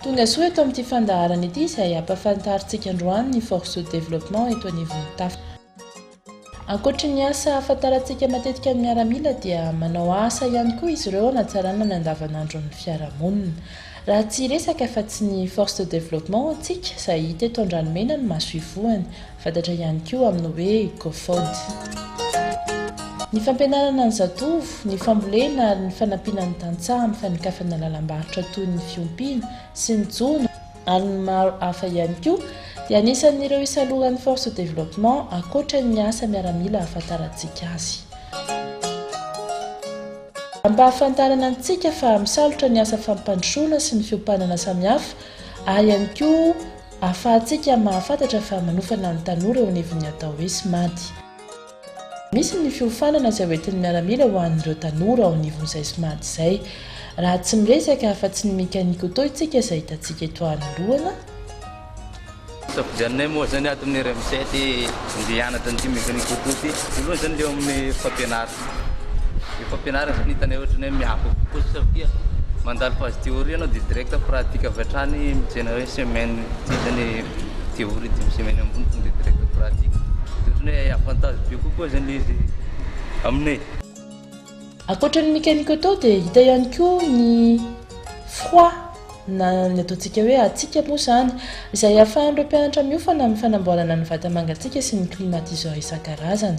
Tongasoa eto amin'ity fandaharana ity izay hampafantarintsika androany ny Force de Développement eto anivon'ny Tafa. Ankoatry ny asa ahafantarantsika matetika ny miaramila dia manao asa ihany koa izy ireo hanatsarana ny andavanandron'ny fiarahamonina. Raha tsy hiresaka afa-tsy ny Force de Développement antsika izay hita eto Andranomena no maso ivohany, Fantatra ihany koa amin'ny hoe Cofod. Ny fampianarana ny zatovo, ny fambolena ary ny fanampiana ny tantsaha amin'ny fanokafana lalam-barotra toy ny fiompiana sy ny jono ary ny maro hafa ihany koa dia anisan'ireo isalohan'ny Force Développement ankoatra ny asa miaramila ahafantarantsika azy. Ampahafantarana antsika fa misalotra ny asa fampandrosoana sy ny fiompanana samihafa ary ihany koa. Ahafahantsika mahafantatra fa manofana ny tanora eo anivon'ny atao hoe SMAD. Misy ny fiofanana izay hoentin'ny miaramila ho an'ireo tanora ao anivon'izay SMAD izay. Raha tsy miresaka afa-tsy ny mécanique auto isika izay hitantsika eto anoloana, Isafidianinay moa izany ato amin'ny RMC ity mby hianatra an'ity mécanique auto ity. Voalohany izany eo amin'ny fampianarana. Ny fampianarana zany hitanay ohatry ny hoe miafy eo kokoa satria mandalo phase théorie ianao dia direct pratique avy hatrany mijery hoe semaine ity zany théorie dimy semaine ambony tonga dia direct pratique dia ohatry ny hoe avantage be kokoa zany le izy aminay. Ankoatra ny mécanique auto dia hita ihany koa ny froid na ny ataontsika hoe hatsiaka moa izany izay ahafahan'ireo mpianatra miofana amin'ny fanamboarana ny vata mangatsiaka sy ny climatiseur isan-karazany.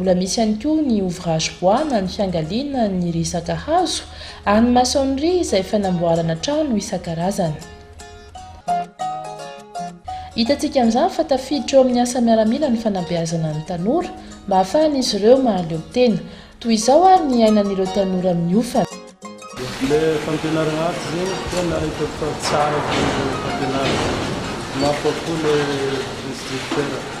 Mbola misy ihany koa ny ouvrage bois na ny fiangaliana ny resaka hazo ary ny maçonnerie izay fanamboarana trano isan-karazany. Hitantsika amin'izany fa tafiditra eo amin'ny asa miaramila ny fanabeazana ny tanora mba hahafahan'izy ireo mahaleo tena. Toy izao ary ny iainan'ireo tanora miofana. Ilay fampianarana aty zegny tena hitako fa tsara be fampianarana. Mafy kokoa ilay instructeur.